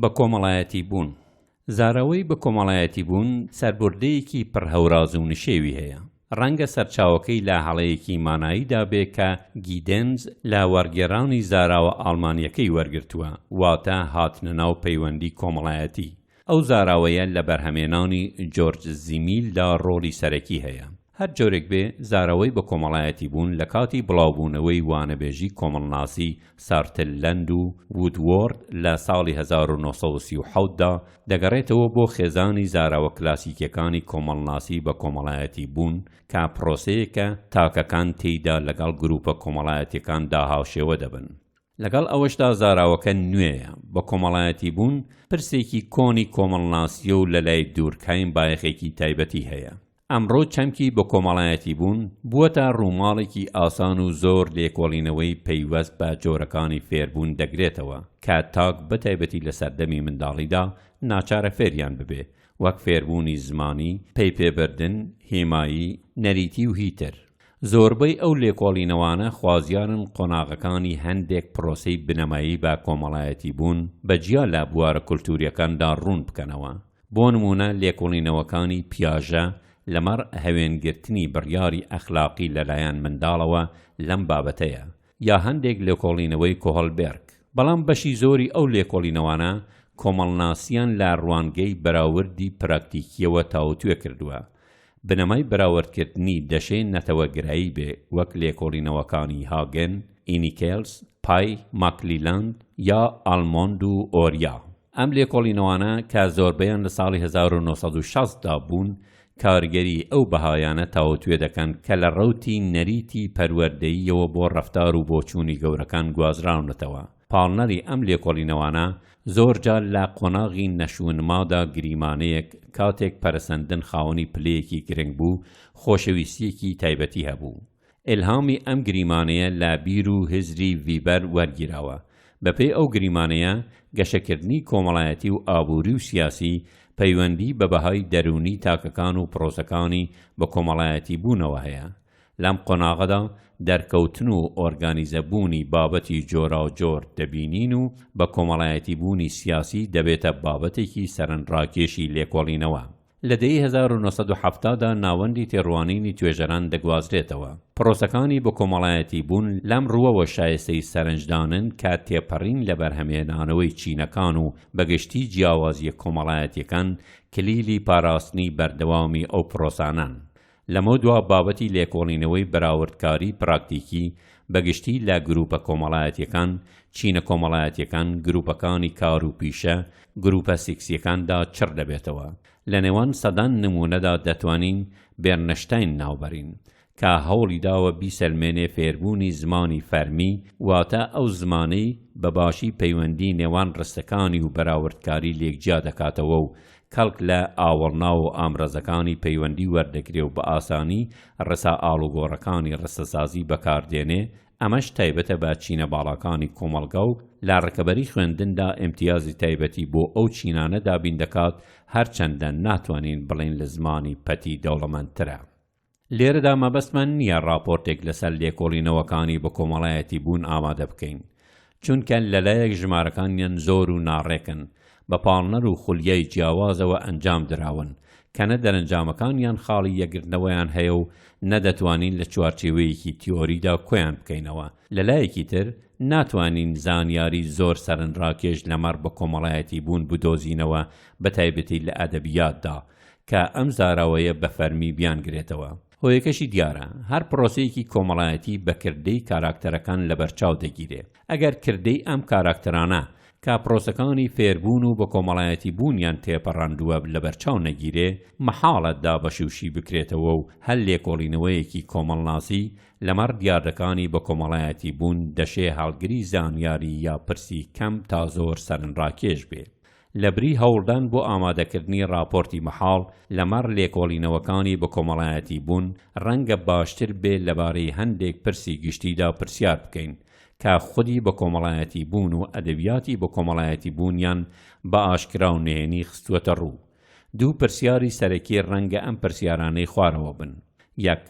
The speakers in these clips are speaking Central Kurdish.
بەکۆمەڵایەتیبوون، زاراوەی بەکۆمەڵایەتیبوون سەربوردەیەکی پڕ هەوراز و نشێوی هەیە، ڕەنگە سەرچاوەکەی لە هەڵەیەکی ماناییدا بێ کە گیدێنز لە وەڕگێڕانی زاراوە ئاڵمانییەکەی وەرگرتووە، واتە هاتنە ناو پەیوەندی کۆمەڵایەتی. ئەو زاراوەیە لە بەرهەمێنانی جۆرج زیمیلدا ڕۆڵی سەرەکی هەیە. هەر جۆرێک بێ زارەوەی بە کۆمەڵایەتی بوون لە کاتی بڵاو بوونەوەی وانەبێژی کۆمەڵناسی سارتللەند و وودوۆرد لە ساڵی هەزار و نۆ سەد و سی و حەوت دا دەگەڕێتەوە بۆ خێزانی زاراوە کلاسیکیەکانی کۆمەڵناسی بە کۆمەڵایەتی بوون کە پرۆسەیەکە تاکەکان تێیدا لەگەڵ گروپە کۆمەڵایەتیەکان دا هاوشێوە دەبن. لەگەڵ ئەوەشدا زاراوەکە نوێیە بە کۆمەڵایەتی بوون پرسێکی کۆنی کۆمەڵناسیە و لە لای دورکهایم بایەخێکی تایبەتی هەیە. ئەمڕۆ چەمکی بەکۆمەڵایەتیبوون بووەتە ڕووماڵێکی ئاسان و زۆر لێکۆڵینەوەی پەیوەست بە جۆرەکانی فێربوون دەگرێتەوە کە تاک بەتایبەتی لە سەردەمی منداڵیدا ناچارە فێریان ببێ وەک فێربوونی زمانی، پەیپێبردن، هێمایی، نەریتی و هی تر. زۆربەی ئەو لێکۆڵینەوانە خوازیارن قۆناغەکانی هەندێک پرۆسەی بنەمایی بە کۆمەڵایەتیبوون بە جیا لە بوارە کولتوورییەکاندا ڕوون بکەنەوە. بۆ نموونە لێکۆڵینەوەکانی پیاژە لەمەڕ هەوێنگرتنی بڕیاری ئەخلاقی لەلایەن منداڵەوە لەم بابەتەیە، یا هەندێک لێکۆڵینەوەی کۆهڵبێرگ. بەڵام بەشی زۆری ئەو لێکۆڵینەوانە کۆمەڵناسیان لە ڕوانگەی بەراوردی پراکتیکییەوە تاوتوێ کردووە، بنەمای بەراوردکردنی دەشێ نەتەوەگرایی بێ وەک لێکۆڵینەوەکانی هاگن، ئینیکێلس، پای، ماکلیلاند یا ئالمۆند و ئۆریا. ئەم لێکۆڵینەوانە کە زۆربەیان لە ساڵی هەزار و نۆ سەد و شەست دا بوون کارگەری ئەو بەهایانە تاوتوێ دەکەن کە لە ڕەوتی نەریتی پەروەردەییەوە بۆ ڕەفتار و بۆچوونی گەورەکان گوازراونەتەوە. پاڵنەری ئەم لێکۆڵینەوانە زۆر جار لە قۆناغی نەشونمادا گریمانەیەک کاتێک پەرەسەندن خاوەنی پلەیەکی گرنگ بوو، خۆشەویستییەکی تایبەتی هەبوو. ئیلهامی ئەم گریمانەیە لە بیر و هزری ڤیبەر وەرگیراوە. بەپێی ئەو گریمانەیە، گەشەکردنی کۆمەڵایەتی و ئابووری و سیاسی پەیوەندی بە بەهای دەروونی تاکەکان و پرۆسەکانی بەکۆمەڵایەتیبوونەوە هەیە. لەم قۆناغەدا دەرکەوتن و ئۆرگانیزە بوونی بابەتی جۆراوجۆر دەبینین و بە کۆمەڵایەتی بوونی سیاسی دەبێتە بابەتێکی سەرنڕاکێشی لێکۆڵینەوە. لە دەیەی هەزار و نۆ سەد و حەفتا دا ناوەندی تێڕوانینی توێژەران دەگوازرێتەوە. پڕۆسەکانی بەکۆمەڵایەتی بوون لەم ڕووەوە شایستەی سەرنجدانن کە تێپەڕین لە بەرهەمهێنانەوەی چینەکان و بە گشتی جیاوازییە کۆمەڵایەتییەکان کلیلی پاراستنی بەردەوامی ئەو پڕۆسانەن. لەمەودوا بابەتی لێکۆڵینەوەی بەراوردکاری پراکتیکی بە گشتی لە گرووپە کۆمەڵایەتییەکان، چینە کۆمەڵایەتییەکان، گرووپەکانی کار و پیشە، گرووپە سیکسییەکاندا چڕ دەبێتەوە. لە نێوان سەدان نموونەدا دەتوانین بێرنشتاین ناوبەرین، کە هەوڵی داوە بیسەلمێنێ فێربوونی زمانی فەرمی واتە ئەو زمانەی بە باشی پەیوەندی نێوان ڕستەکانی و بەراوردکاری لێک جیا دەکاتەوە و کەڵک لە ئاوەڵناو و ئامرازەکانی پەیوەندی وەردەگرێ و بە ئاسانی ڕسا ئاڵوگۆڕەکانی ڕستەسازی بەکار دێنێ، ئەمەش تایبەتە بە چینە باڵاکانی کۆمەڵگا و لە ڕکەبەری خوێندندا ئیمتیازی تایبەتی بۆ ئەو چینانە دابین دەکات، هەرچەندە ناتوانین بڵێین لە زمانی پەتی دەوڵەمەندترە. لێرەدا مەبەستمان نییە ڕاپۆرتێک لەسەر لێکۆڵینەوەکانی بەکۆمەڵایەتیبوون ئامادە بکەین، چونکە لەلایەک ژمارەکانیان زۆر و ناڕێکن، بە پاڵنەر و خولیای جیاوازەوە ئەنجام دراون، کە نە دەرەنجامەکانیان خاڵی یەکگرتنەوەیان هەیە و نە دەتوانین لە چوارچێوەیەکی تیۆریدا کۆیان بکەینەوە، لەلایەکی تر ناتوانین زانیاری زۆر سەرنراکێش لەمەڕ بەکۆمەڵایەتیبوون بدۆزینەوە بەتایبەتی لە ئەدەبیاتدا، کە ئەم زاراوەیە بە فەرمی بیانگرێتەوە. هۆیەکەشی دیارە، هەر پرۆسەیەکی کۆمەڵایەتی بە کردەی کاراکتەرەکان لەبەرچاو دەگیرێ. ئەگەر کردەی ئەم کاراکتەرانە کە پرۆسەکانی فێربوون و بەکۆمەڵایەتی بوونیان تێپەڕاندووە لەبەرچاو نەگیرێ، مەحاڵە دابەش و شی بکرێتەوە و هەر لێکۆڵینەوەیەکی کۆمەڵناسی لەمەڕ دیاردەکانی بەکۆمەڵایەتی بوون دەشێ هەڵگری زانیاری یا پرسی کەم تا زۆر سەرنراکێش بێ. لەبری هەوڵدان بۆ ئامادەکردنی ڕاپۆرتی مەحاڵ لەمەڕ لێکۆڵینەوەکانی بەکۆمەڵایەتیبوون، ڕەنگە باشتر بێ لەبارەی هەندێک پرسی گشتیدا پرسیار بکەین، کە خودی بەکۆمەڵایەتیبوون و ئەدەبیاتی بەکۆمەڵایەتیبوونیان بە ئاشکرا و نهێنی خستووەتە ڕوو. دوو پرسیاری سەرەکی ڕەنگە ئەم پرسیارانەی خوارەوە بن، یەک،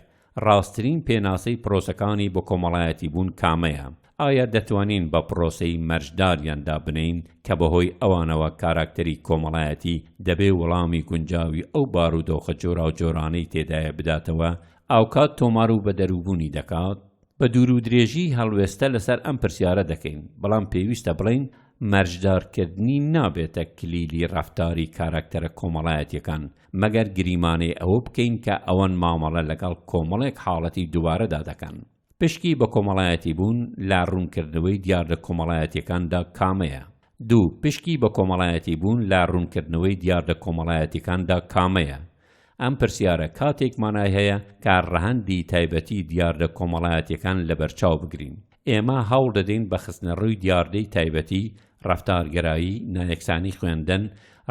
ڕاستترین پێناسەی پرۆسەکانی بەکۆمەڵایەتیبوون کامەیە؟ ئایا دەتوانین بە پرۆسەی مەرج داریان دابنێین کە بەهۆی ئەوانەوە کاراکتەری کۆمەڵایەتی دەبێ وڵامی گونجاوی ئەو بارودۆخە جۆراوجۆرانەی تێدایە بداتەوە ئاوکات تۆمار و بەدەروبوونی دەکات؟ بە دوورودرێژی هەڵوێستە لەسەر ئەم پرسیارە دەکەین، بەڵام پێویستە بڵێین مەرجدارکردنی نابێتە کلیلی ڕەفتاری کاراکتەرە کۆمەڵایەتیەکان مەگەر گریمانەی ئەوە بکەین کە ئەوان مامەڵە لەگەڵ کۆمەڵێک حاڵەتی دووبارەدا دەکەن. پشکی بە کۆمەڵایەتیبوون لە ڕوونکردنەوەی دیاردە کۆمەڵایەتییەکاندا کامەیە؟ دوو، پشکی بە کۆمەڵایەتیبوون لە ڕوونکردنەوەی دیاردە کۆمەڵایەتییەکاندا کامەیە؟ ئەم پرسیارە کاتێک مانای هەیە کە ڕەهەندی تایبەتی دیاردە کۆمەڵایەتییەکان لەبەرچاو بگرین. ئێمە هەوڵ دەدەین بە خستنەڕووی دیاردەی تایبەتی، ڕەفتارگەرایی، نایەکسانی خوێندن،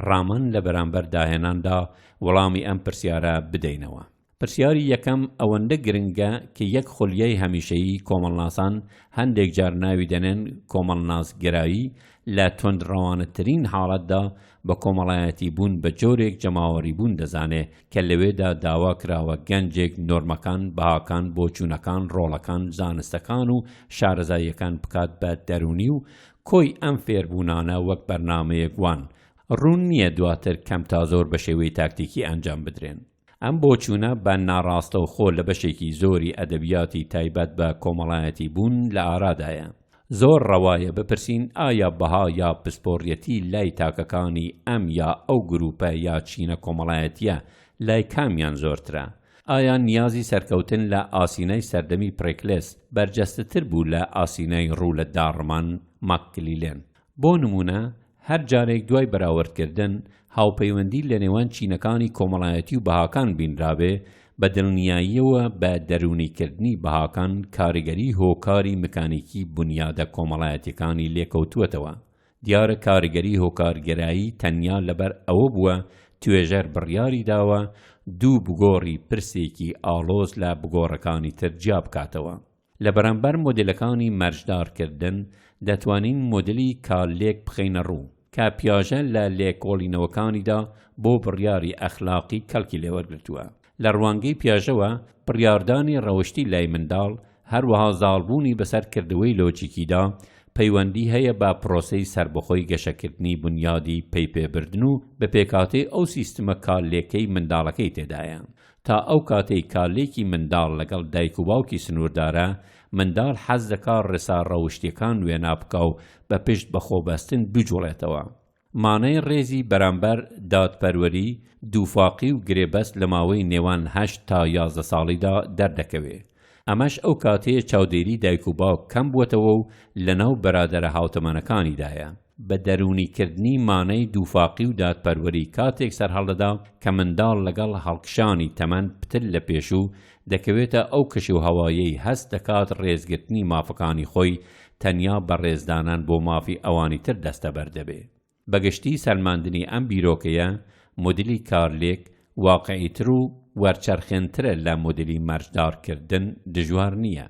ڕامن لە بەرامبەر داهێناندا، وەڵامی ئەم پرسیارە بدەینەوە. پرسیاری یەکەم ئەوەندە گرنگە کە یەک خولیای هەمیشەیی کۆمەڵناسان هەندێک جار ناوی دەنێن کۆمەڵناسگەرایی، لە توندڕەوانەترین حاڵەتدا بە کۆمەڵایەتی بوون بە جۆرێک جەماوەری بوون دەزانێ کە لەوێدا داوا کراوە گەنجێک نۆرمەکان، بەهاکان، بۆچوونەکان، ڕۆڵەکان، زانستەکان و شارەزاییەکان بکات بە دەروونی و کۆی ئەم فێربوونانە وەک بەرنامەیەک وان، ڕوون نییە دواتر کەم تا زۆر بە شێوەی تاکتیکی ئەنجام بدرێن. ئەم بۆچوونە بە ناڕاستەوخۆ لە بەشێکی زۆری ئەدەبیاتی تایبەت بە کۆمەڵایەتی بوون لە ئارادایە. زۆر ڕەوایە بپرسین ئایا بەها یا پسپۆڕیەتی لای تاکەکانی ئەم یا ئەو گرووپە یا چینە کۆمەڵایەتییە لای کامیان زۆرترە؟ ئایا نیازی سەرکەوتن لە ئاسینای سەردەمی پڕێکلێس بەرجەستەتر بوو لە ئاسینای ڕوو لە داڕمان، ماککلیلێن. بۆ نموونە هەر جارێک دوای بەراوردکردن هاوپەیوەندی لە نێوان چینەکانی کۆمەڵایەتی و بەهاکان بینرابێ، بە دڵنیاییەوە بە دەروونیکردنی بەهاکان کاریگەری هۆکاری مکانیکی بونیادە کۆمەڵایەتیەکانی لێکەوتووەتەوە. دیارە کاریگەری هۆکارگەرایی تەنیا لەبەر ئەوە بووە توێژەر بڕیاری داوە دوو بگۆڕی پرسێکی ئاڵۆز لە بگۆڕەکانی تر جیابکاتەوە. لە بەرامبەر مۆدێلەکانی مەرجدارکردن، دەتوانین مۆدێلی کارلێک بخەینەڕوو، کە پیاژە لە لێکۆڵینەوەکانیدا بۆ بڕیاری ئەخلاقی کەڵکی لێوەرگرتووە. لە ڕوانگەی پیاژەوە، بڕیاردانی ڕەوشتی لای منداڵ، هەروەها زاڵبوونی بەسەر کردەوەی لۆجیکیدا، پەیوەندی هەیە بە پرۆسەی سەربەخۆی گەشەکردنی بونیادی پەیپێبردن و بە پێکهاتەی ئەو سیستمە کارلێکەی منداڵەکەی تێدایە. تا ئەو کاتەی کارلێکی منداڵ لەگەڵ دایک و باوکی سنووردارە، منداڵ حەز دەکا ڕێسا ڕەوشتییەکان وێنا بکا و بە پشت بە خۆ بەستن بجووڵێتەوە. مانای ڕێزی بەرامبەر دادپەروەری، دووفاقی و گرێبەست لە ماوەی نێوان هەشت تا یازدە ساڵیدا دەردەکەوێ. ئەمەش ئەو کاتەیە چاودێری دایک و باوک کەم بووەتەوە و لەناو بەرادەرە هاوتەمەنەکانیدایە. بە دەروونی کردنی مانەی دووفاقی و دادپەروەری کاتێک سەرهەڵدەدا کە منداڵ لەگەڵ هەڵکشانی تەمەن پتر لە پێشوو دەکەوێتە ئەو کەشوهەوایەی هەست دەکات ڕێزگرتنی مافەکانی خۆی تەنیا بە ڕێزدانان بۆ مافی ئەوانی تر دەستەبەر دەبێ. بە گشتی سەلماندنی ئەم بیرۆکەیە مودیلی کارلێک واقعیتر و وەرچەرخێنترە لە مودیلی مەرجدار کردن دژوار نییە.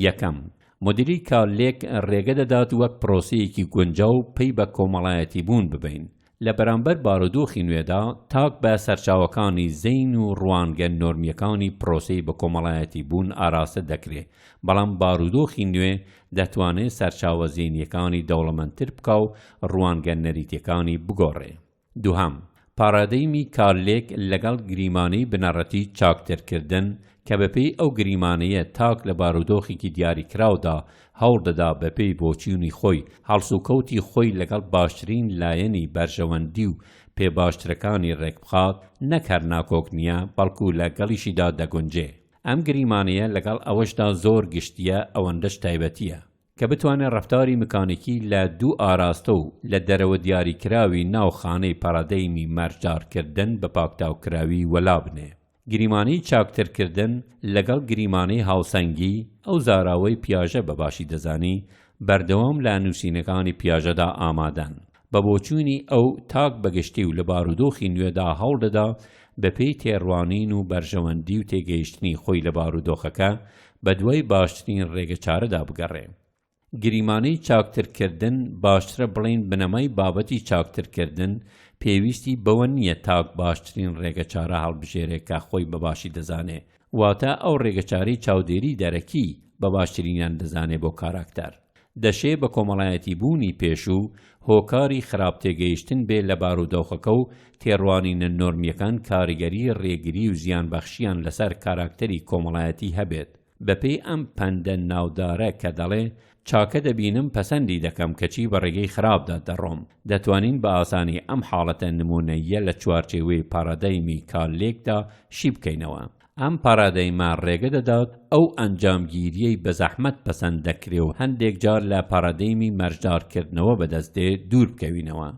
یەکەم، مدیری کارلێک ڕێگە دەدات وەک پرۆسەیەکی گونجاو پەی بە کۆمەڵایەتیبوون ببەین. لە بەرامبەر بارودۆخی نوێدا، تاک بە سەرچاوەکانی زەین و ڕوانگە نۆرمییەکانی پرۆسەی بەکۆمەڵایەتیبوون ئاراستە دەکرێ، بەڵام بارودۆخی نوێ دەتوانێ سەرچاوە زەینییەکانی دەوڵەمەندتر بکا و ڕوانگە نەریتییەکانی بگۆڕێ. دوهەم، پاڕادەیمی کارلێک لەگەڵ گریمانەی بنەڕەتی چاکترکردن کە بەپێی ئەو گریمانەیە تاک لە بارودۆخێکی دیاریکراودا هەوڵ دەدا بەپێی بۆچیونی خۆی هەڵسوکەوتی خۆی لەگەڵ باشترین لایەنی بەرژەوەندی و پێ باشترەکانی ڕێکبخات نەک هەر ناکۆک نیە بەڵکو لە گەڵیشیدا دەگونجێ ئەم گریمانەیە لەگەڵ ئەوەشدا زۆر گشتیە ئەوەندەش تایبەتیە کە بتوانێت ڕەفتاری مکانیکی لە دوو ئاراستە و لە دەرەوە دیاریکراوی ناو خانەی پارادەیمی مەرجدارکردن بە پاکتاوکراوی وەلا بنێ. گریمانەی چاکترکردن لەگەڵ گریمانەی هاوسەنگی، ئەو زاراوەی پیاژە بە باشی دەزانی، بەردەوام لە نووسینەکانی پیاژەدا ئامادەن. بە بۆچوونی ئەو، تاک بە گشتی و لە بارودۆخی نوێدا هەوڵ دەدا بەپێی تێڕوانین و بەرژەوەندی و تێگەیشتنی خۆی لە بارودۆخەکە، بەدوای باشترین ڕێگەچارەدا بگەڕێ. گریمانەی چاکترکردن، باشترە بڵێین بنەمای بابەتی چاکترکردن، پێویستی بەوە نییە تاک باشترین ڕێگەچارە هەڵبژێرێ کە خۆی بە باشی دەزانێ، واتا ئەو ڕێگەچارەی چاودێری دەرەکی بە باشترینیان دەزانێ بۆ کاراکتەر، دەشێ بە کۆمەڵایەتیبوونی پێشوو هۆکاری خراپ تێگەیشتن بێ لە بارودۆخەکە و تێڕوانینە نۆرمییەکان کاریگەری ڕێگری و زیانبەخشیان لەسەر کاراکتەری کۆمەڵایەتی هەبێت بەپێی ئەم پەندە ناودارە کە دەڵێ چاکە دەبینم پەسەندی دەکەم کەچی بە ڕێگەی خراپدا دەڕۆم، دەتوانین بە ئاسانی ئەم حاڵەتە نموونەییە لە چوارچێوەی پارادایمی کارلێکدا شی بکەینەوە. ئەم پارادایمە ڕێگە دەدات ئەو ئەنجامگیرییەی بە زەحمەت پەسەند دەکرێ و هەندێک جار لە پارادایمی مەرجدارکردنەوە بەدەست دێ دوور بکەوینەوە.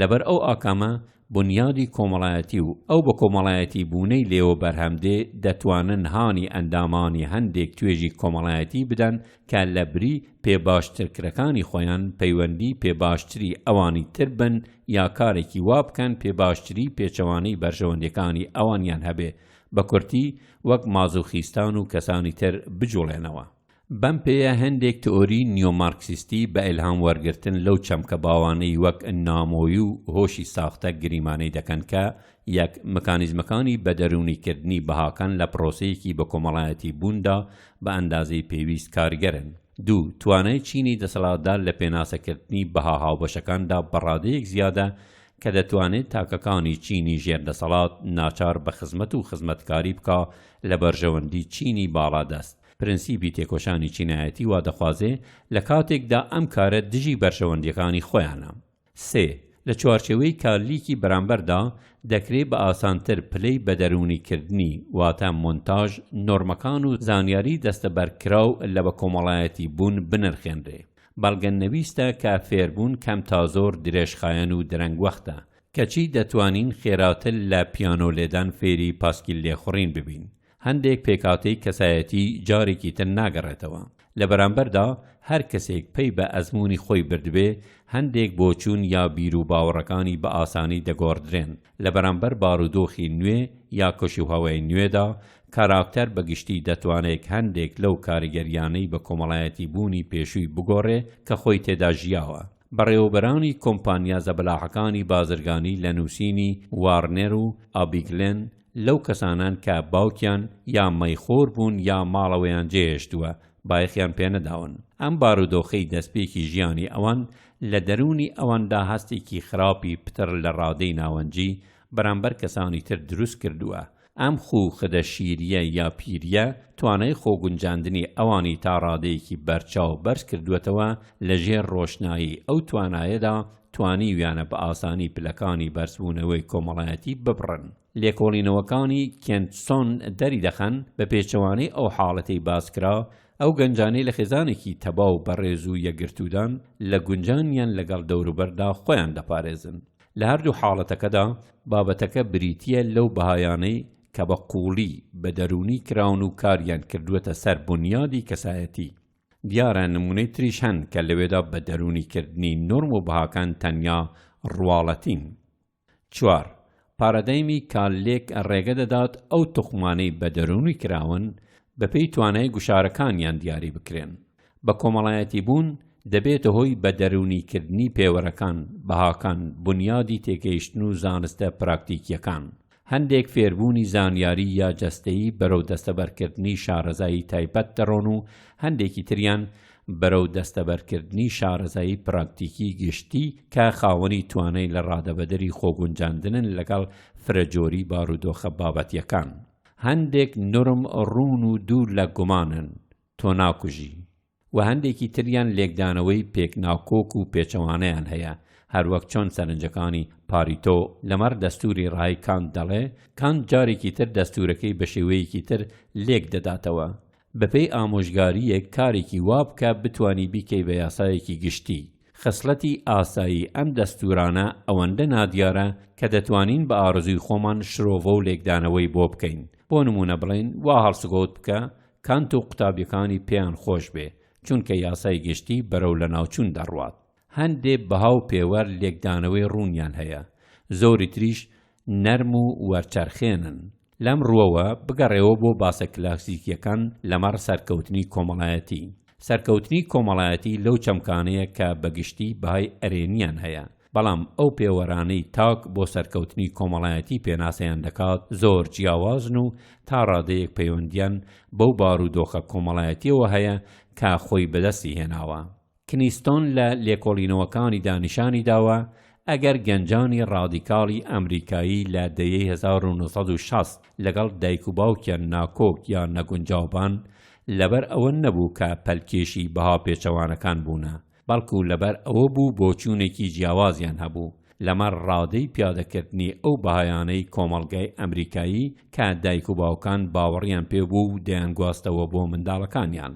لەبەر ئەو ئاکامە بونیادی کۆمەڵایەتی و ئەو بەکۆمەڵایەتی بوونەی لێوە بەرهەم دێ دەتوانن هانی ئەندامانی هەندێک توێژی کۆمەڵایەتی بدەن کە لە بری پێ باشترکرەکانی خۆیان پەیوەندی پێ باشتری ئەوانی تر بن یا کارێکی وا بکەن پێ باشتری پێچەوانەی بەرژەوەندیەکانی ئەوانیان هەبێ بە کورتی وەک مازوخیستان و کەسانی تر بجوڵێنەوە بەم پێیە هەندێک تئۆری نیۆمارکسیستی بە ئیلهام وەرگرتن لەو چەمکە باوانەی وەک نامۆیی و هۆشی ساختە گریمانەی دەکەن کە یەک مکانیزمەکانی بەدەروونیکردنی بەهاکان لە پرۆسەیەکی بەکۆمەڵایەتیبووندا بە ئەندازەی پێویست کارگەرن. دوو، توانای چینی دەسەڵاتدار لە پێناسەکردنی بەها هاوبەشەکاندا بە ڕادەیەک زیادە کە دەتوانێت تاکەکانی چینی ژێر دەسەڵات ناچار بە خزمەت و خزمەتکاری بکا لە بەرژەوەندی چینی باڵادەست پرەنسیپی تێکۆشانی چینایەتی وا دەخوازێ لە کاتێکدا ئەم کارە دژی بەرژەوەندییەکانی خۆیانە. سێ، لە چوارچێوەی کارلیکی بەرامبەردا، دەکرێ بە ئاسانتر پلەی بەدەروونیکردنی، واتە مۆنتاژ، نۆرمەکان و زانیاریی دەستەبەرکراو لە بەکۆمەڵایەتی بوون بنرخێنرێ. بەڵگە نەویستە کە فێربوون کەم تا زۆر درێژخایەن و درەنگوەختە، کەچی دەتوانین خێراتر لە پیانۆ لێدان فێری پاسکیل لێخوڕین ببین. هەندێک پێکهاتەی کەسایەتی جارێکی تر ناگەڕێتەوە، لە بەرامبەردا هەر کەسێک پەی بە ئەزموونی خۆی بردبێ، هەندێک بۆچوون یا بیروباوەڕەکانی بە ئاسانی دەگۆڕدرێن. لە بەرامبەر بارودۆخی نوێ یا کەشوهەوای نوێدا، کاراکتەر بە گشتی دەتوانێک هەندێک لەو کاریگەرییانەی بە کۆمەڵایەتی بوونی پێشووی بگۆڕێ کە خۆی تێدا ژیاوە. بەڕێوەبەرانی کۆمپانیا زەبەلاحەکانی بازرگانی لە نووسینی وارنێر و ئابیگلێن، لەو کەسانەن کە باوکیان یا مەیخۆر بوون یا ماڵەوەیان جێهێشتووە بایەخیان پێنەداون، ئەم بارودۆخەی دەستپێکی ژیانی ئەوان لە دەروونی ئەواندا هەستێکی خراپی پتر لە ڕادەی ناوەنجی بەرامبەر کەسانی تر دروست کردووە، ئەم خوو خدە شیرییە یا پیرییە توانای خۆگونجاندنی ئەوانی تا ڕادەیەکی بەرچاو بەرز کردووەتەوە لە ژێر ڕۆشنایی ئەو توانایەدا توانیویانە بە ئاسانی پلەکانی بەرزبوونەوەی کۆمەڵایەتی ببڕن. لێکۆڵینەوەکانی کێنت سۆن دەریدەخەن، بە پێچەوانەی ئەو حاڵەتەی باسکرا، ئەو گەنجانەی لە خێزانێکی تەبا و بەڕێز و یەکگرتوودان، لە گونجانیان لەگەڵ دەوروبەردا خۆیان دەپارێزن. لە هەردوو حاڵەتەکەدا، بابەتەکە بریتییە لەو بەهایانەی کە بە قووڵی بە دەروونی کراون و کاریان کردووەتە سەر بونیادی کەسایەتی. دیارە نموونەی تریش هەن کە لەوێدا بە دەروونی کردنی نۆرم و بەهاکان تەنیا ڕواڵەتین. چوار، پارادایمی کاللێک ڕێگە دەدات ئەو توخمانەی بە دەروونی کراون بەپێی توانای گوشارەکانیان دیاری بکرێن. بە کۆمەڵایەتی بوون دەبێتە هۆی بە دەروونی کردنی پێوەرەکان، بەهاکان، بونیادی تێگەیشتن و زانستە پراکتیکییەکان. هەندێک فێربوونی زانیاری یا جەستەیی بەرەو دەستەبەرکردنی شارەزایی تایبەت دەڕۆن و هەندێکی تریان بەرەو دەستەبەرکردنی شارەزایی پراکتیکی گشتی کە خاوەنی توانای لە ڕادەبەدەری خۆگونجاندنن لەگەڵ فرەجۆری بارودۆخە بابەتیەکان. هەندێک نۆرم ڕوون و دوور لە گومانن، تۆ ناکوژی. و هەندێکی تریان لێکدانەوەی پێک ناکۆک و پێچەوانەیان هەیە، هەروەک چۆن سەرنجەکانی، پاریتۆ، لەمەڕ دەستووری ڕای کانت دەڵێ، کانت جارێکی تر دەستوورەکەی بە شێوەیەکی تر لێک دەداتەوە. بەپێی ئامۆژگارییەک کارێکی وا بکە بتوانی بیکەی بە یاسایەکی گشتی. خسڵەتی ئاسایی ئەم دەستوورانە ئەوەندە نادیارە کە دەتوانین بە ئارەزووی خۆمان شرۆڤە و لێکدانەوەی بۆ بکەین. بۆ نموونە بڵێین وا هەڵسوکەوت بکە کانت و قوتابیەکانی پێیان خۆش بێ چونکە یاسای گشتی بەرەو لەناوچون دەڕوات هەندێ بەها و پێوەر لێکدانەوەی ڕوونیان هەیە زۆری تریش نەرم و وەرچەرخێنن لەم ڕوەوە بگەڕێوە بۆ باسە کلاسیکیەکان لەمەڕ سەرکەوتنی کۆمەڵایەتی سەرکەوتنی کۆمەڵایەتی لەو چەمکانەیە کە بەگشتی بەهای ئەرێنیان هەیە بەڵام ئەو پێوەرانەی تاک بۆ سەرکەوتنی کۆمەڵایەتی پێناسەیان دەکات زۆر جیاوازن و تا ڕادەیەک پەیوەندیان بەو بارودۆخە کۆمەڵایەتیەوە هەیە کە خۆی بەدەستی هێناوە. کنیستۆن لە لێکۆڵینەوەکانیدا نیشانی داوە ئەگەر گەنجانی ڕادیکاڵی ئەمریکایی لە دەیەی هەزار و نۆ سەد و شەست لەگەڵ دایک و باوکیان ناکۆک یا نەگونجاوبان، لەبەر ئەوە نەبوو کە پەلکێشی بەها پێچەوانەکان بوونە، بەڵکو لەبەر ئەوە بوو بۆچوونێکی جیاوازیان هەبوو لەمەڕ ڕادەی پیادەکردنی ئەو بەهایانەی کۆمەڵگای ئەمریکایی کە دایک و باوکان باوەڕیان پێ بوو و دەیانگواستەوە بۆ منداڵەکانیان.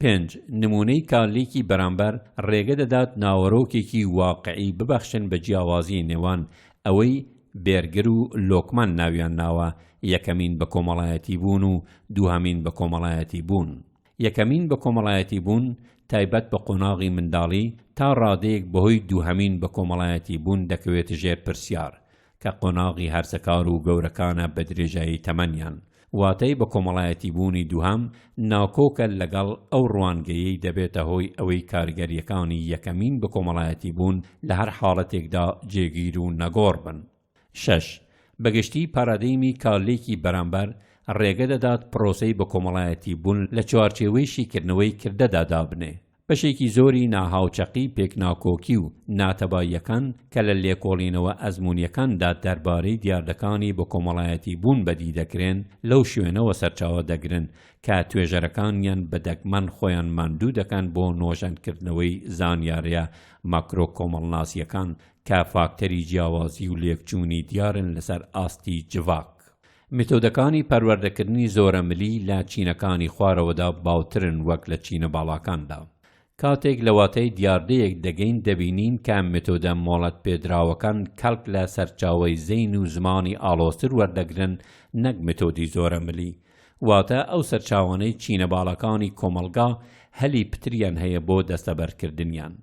پێنج، نموونەی کارلیکی بەرامبەر ڕێگە دەدات ناوەرۆکێکی واقعی ببەخشن بە جیاوازیی نێوان ئەوەی بێرگر و لۆکمان ناویان ناوە یەکەمین بەکۆمەڵایەتیبوون و دووهەمین بەکۆمەڵایەتیبوون. یەکەمین بەکۆمەڵایەتی بوون تایبەت بە قۆناغی منداڵی تا ڕادەیەک بەهۆی دووهەمین بەکۆمەڵایەتی بوون دەکەوێتە ژێر پرسیار، کە قۆناغی هەرزەکار و گەورەکانە بە درێژایی تەمەنیان. واتای بەکۆمەڵایەتی بوونی دووهەم ناکۆکە لەگەڵ ئەو ڕوانگەیەی دەبێتە هۆی ئەوەی کاریگەرییەکانی یەکەمین بەکۆمەڵایەتی بوون لە هەر حاڵەتێکدا جێگیر و نەگۆڕ بن. شەش، بەگشتی پارادەیمی کارلێکی بەرامبەر ڕێگە دەدات پرۆسەی بەکۆمەڵایەتی بوون لە چوارچێوەی شیکردنەوەی کردەدا دابنێ. بەشێکی زۆری ناهاوچەقی پێکناکۆکی و ناتەباییەکان کە لە لێکۆڵینەوە ئەزموونیەکاندا دەربارەی دیاردەکانی بەکۆمەڵایەتی بوون بەدی دەکرێن لەو شوێنەوە سەرچاوە دەگرن کە توێژەرەکانیان بە دەگمەن خۆیان ماندوو دەکەن بۆ نۆژەنکردنەوەی زانیاریە ماکرۆکۆمەڵناسیەکان کە فاکتەری جیاوازی و لێکچوونی دیارن لەسەر ئاستی جڤاک. میتۆدەکانی پەروەردەکردنی زۆرەملی لە چینەکانی خوارەوەدا باوترن وەک لە چینە باڵاکاندا. کاتێک لە واتای دیاردەیەک دەگەین دەبینین کە میتۆدە مۆڵەتپێدراوەکان کەڵک لە سەرچاوەی زەین و زمانی ئاڵۆزتر وەردەگرن نەک میتۆدی زۆرەملی، واتە ئەو سەرچاوانەی چینە باڵاکانی کۆمەڵگا هەلی پتریان هەیە بۆ دەستەبەرکردنیان.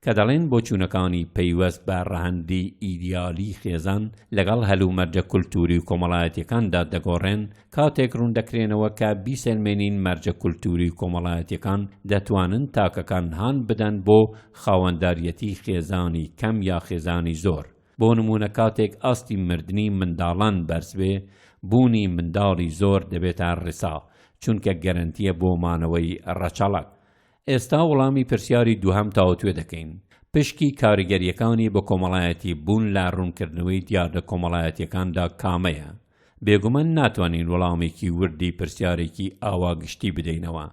کە دەڵێن بۆچوونەکانی پەیوەست بە ڕەهەندی ئیدیالی خێزان لەگەڵ هەلومەرجە کولتووری و کۆمەڵایەتییەکاندا دەگۆڕێن، کاتێک ڕووندەکرێنەوە کە بیسەلمێنین مەرجە کولتووری و کۆمەڵایەتییەکان دەتوانن تاکەکان هان بدەن بۆ خاوەنداریەتی خێزانی کەم یا خێزانی زۆر، بۆ نموونە کاتێک ئاستی مردنی منداڵان بەرز بێ، بوونی منداڵی زۆر دەبێتە ڕیسا، چونکە گەرەنتییە بۆ مانەوەی ڕەچەڵەک، ئێستا وڵامی پرسیاری دووهەم تاوتوێ دەکەین، پشکی کاریگەرییەکانی بەکۆمەڵایەتی بوون لە ڕوونکردنەوەی دیاردە کۆمەڵایەتییەکاندا کامەیە؟ بێگومان ناتوانین وڵامێکی وردی پرسیارێکی ئاوا گشتی بدەینەوە،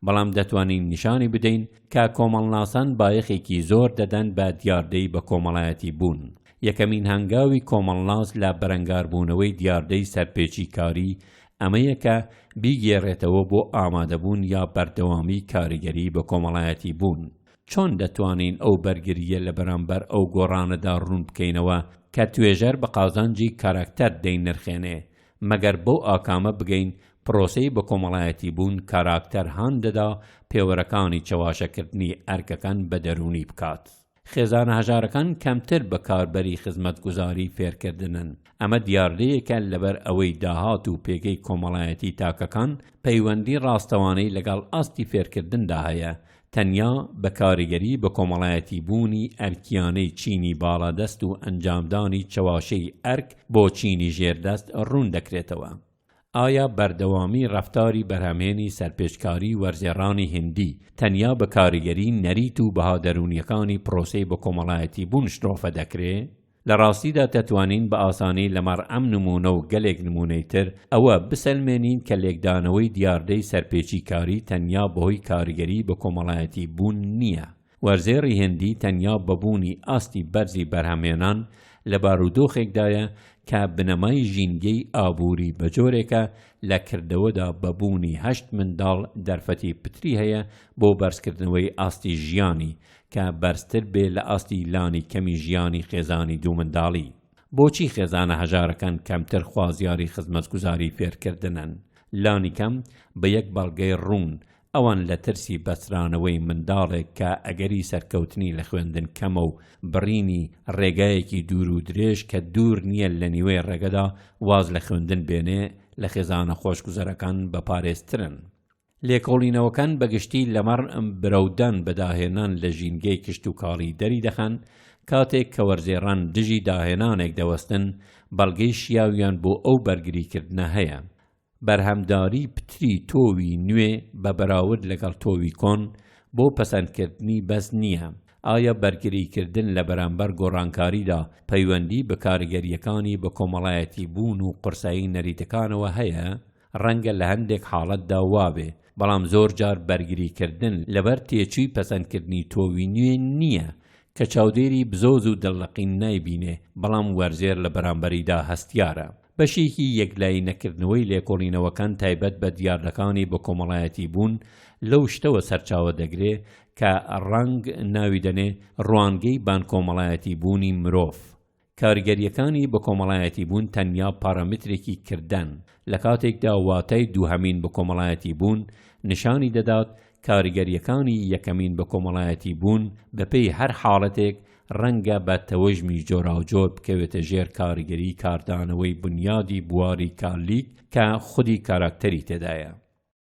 بەڵام دەتوانین نیشانی بدەین کە کۆمەڵناسان بایەخێکی زۆر دەدەن بە دیاردەی بەکۆمەڵایەتی بوون. یەکەمین هەنگاوی کۆمەڵناس لە بەرەنگاربوونەوەی دیاردەی سەرپێچیکاری ئەمە یەکە بیگێڕێتەوە بۆ ئامادەبوون یا بەردەوامیی کاریگەری بەکۆمەڵایەتیبوون. چۆن دەتوانین ئەو بەرگرییە لە بەرامبەر ئەو گۆڕانەدا ڕوون بکەینەوە کە توێژەر بە قازانجی کاراکتەر دەینرخێنێ؟ مەگەر بەو ئاکامە بگەین پرۆسەی بەکۆمەڵایەتیبوون کاراکتەر هان دەدا پێوەرەکانی چەواشەکردنی ئەرکەکان بە دەروونی بکات. خێزانە هەژارەکان کەمتر بەکاربەری خزمەتگوزاری فێرکردنن، ئەمە دیاردەیەکە لەبەر ئەوەی داهات و پێگەی کۆمەڵایەتی تاکەکان پەیوەندی ڕاستەوانەی لەگەڵ ئاستی فێرکردندا هەیە، تەنیا بە کاریگەری بەکۆمەڵایەتیبوونی ئەرکییانەی چینی باڵادەست و ئەنجامدانی چەواشەی ئەرک بۆ چینی ژێردەست ڕوون دەکرێتەوە. ئایا بەردەوامی ڕەفتاری بەرهەمهێنی سەرپێچکاری وەرزێڕانی هیندی تەنیا بە کاریگەری نەریت و بەها دەروونییەکانی پرۆسەی بەکۆمەڵایەتیبوون شرۆڤە دەکرێ؟ لە ڕاستیدا دەتوانین بە ئاسانی لەمەڕ ئەم نموونە و گەلێک نموونەی تر ئەوە بسەلمێنین کە لێکدانەوەی دیاردەی سەرپێچیکاری تەنیا بەهۆی کاریگەری بەکۆمەڵایەتیبوون نییە، وەرزێڕی هندی تەنیا بە بوونی ئاستی بەرزی بەرهەمهێنان لە بارودۆخێکدایە کە بنەمای ژینگەی ئابووری بە جۆرێکە لە کردەوەدا بە بوونی هەشت منداڵ دەرفەتی پتری هەیە بۆ بەرزکردنەوەی ئاستی ژیانی کە بەرزتر بێ لە ئاستی لانی کەمی ژیانی خێزانی دوو منداڵی. بۆچی خێزانە هەژارەکان کەمتر خوازیاری خزمەتگوزاری فێرکردنن؟ لانیکەم بە یەک بەڵگەی ڕوون، ئەوان لە ترسی بەسترانەوەی منداڵێک کە ئەگەری سەرکەوتنی لە خوێندن کەمە و بڕینی ڕێگایەکی دوور و درێژ کە دوور نییە لە نیوەی ڕێگەدا واز لە خوێندن بێنێ لە خێزانە خۆشگوزەرەکان بەپارێزترن. لێکۆڵینەوەکان بەگشتی لەمەڕ برەودان بە داهێنان لە ژینگەی کشتوکاڵی دەریدەخەن، کاتێک کە وەرزێڕان دژی داهێنانێک دەوەستن، بەڵگەی شیاویان بۆ ئەو بەرگریکردنە هەیە. بەرهەمداری پتری تۆوی نوێ بە بەراورد لەگەڵ تۆوی کۆن بۆ پەسەندکردنی بەس نییە؟ ئایا بەرگریکردن لە بەرامبەر گۆڕانکاریدا پەیوەندی بە کاریگەرییەکانی بەکۆمەڵایەتیبوون و قورسایی نەریتەکانەوە هەیە؟ ڕەنگە لە هەندێک حاڵەتدا وابێ، بەڵام زۆرجار بەرگریکردن لەبەر تێچووی پەسەندکردنی تۆوی نوێ نییە کە چاودێری بزۆز و دڵلقین نایبینێ، بەڵام وەرزێر لە بەرامبەریدا هەستیارە. بەشێکی یەکلایی نەکردنەوەی لێکۆڵینەوەکان تایبەت بە دیاردەکانی بەکۆمەڵایەتیبوون لەو شتەوە سەرچاوە دەگرێ کە ڕانگ ناوی دەنێ ڕوانگەی بانکۆمەڵایەتیبوونی مرۆڤ. کاریگەرییەکانی بەکۆمەڵایەتیبوون تەنیا پارامترێکی کردەن، لە کاتێکدا واتای دووهەمین بەکۆمەڵایەتیبوون نیشانی دەدات کاریگەرییەکانی یەکەمین بەکۆمەڵایەتی بوون بەپێی هەر حاڵەتێک ڕەنگە بە تەوژمی جۆراوجۆر بکەوێتە ژێر کاریگەری کاردانەوەی بونیادی بواری کارلیک کە خودی کاراکتەری تێدایە.